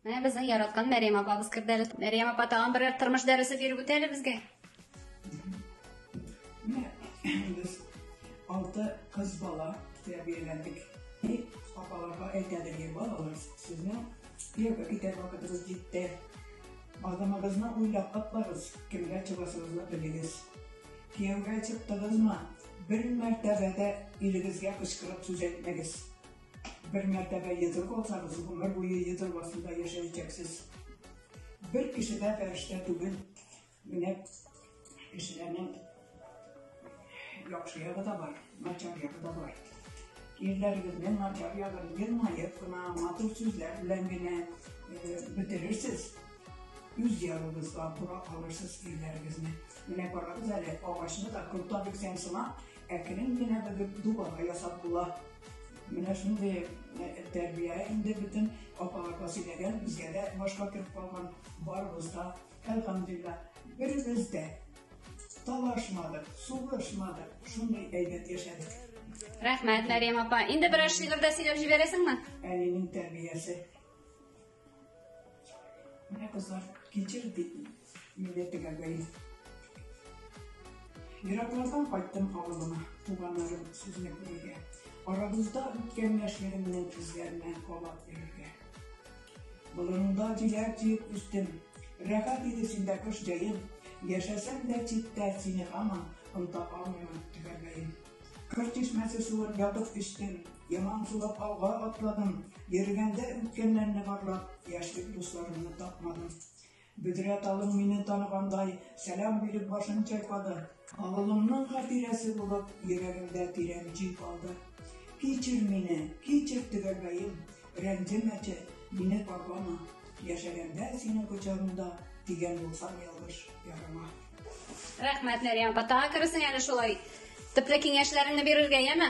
Менә безнең яраткан Мәрьям апабыз керде әле. Мәрьям апа тагын берәр тормыш дәресе биреп үтә әле безгә. Без алты кыз бала тәрбияләндек. Апаларга әйтәдер, ей балалар, сезне кияүгә китәр вакытыгыз җитте. Адамыгызны уйлап каплагыз, кемгә чыгасыгызны белегез. Кияүгә чыктыгызмы, бер мәртәбә дә илегезгә кычкырып сүз әйтмәгез. Бер мәртәбә йодрык алсагыз, гомер буе йодрык астында яшәячәксез. Бер кеше дә фәрештә түгел. Менә кешеләрнең яхшы ягы да бар, начар ягы да бар. Ирләрегезнең начар ягын елмаеп кына, матур сүзләр белән генә э, бетерерсез. Үз ягыгызга бура алырсыз ирләрегезне. Менә карагыз әле, агачны да корта бирсәң сымак, Әкрен генә бөгеп дубага ясап була. Менә шундый э, тәрбия инде бөтен апага Василәгә безгә дә башка кереп калган барыбыз да әлхамдулилла беребез дә талашмадык, сугышмадык, шундый әйбәт яшәдек. Рәхмәт, Мәриям апа. Инде берәр шигырь дә сөйләп җибәрәсеңме? Әнинең тәрбиясе Менә кызлар, килчегез бит милләтегә бәйле. Ераклардан кайттым авылыма, туганнарым сүзне күрергә. Арабызда үткән яшьлегемнең эзләренә кабат йөрергә. Болыныңда җиләк җыеп үстем, рәхәт иде синдә кыш җәем. Яшәсәм дә читтә сине һаман, онта алмыймын төгәлләем. Кыр чишмәсе суын ятып эчтем, Яман сулап алга атладым, Йөргәндә үткәннәрне барлап, Яшьлек дусларымны тапмадым. Бөдрә талым мине таныгандай, Сәлам биреп башын чайкады. Авылымның хатирәсе булып, Йөрәгемдә тирән җир калды. Кичер мине, кичер төгәлбәем, Рәнҗемәче, мине парлама. Яшәгәндә синең кочагыңда, Дигән булсам ялгыш ярыма. Рәхмәт, Мәрьям. Патага кересең әле шулай. Төпле киңәшләреңне бирергә, яме?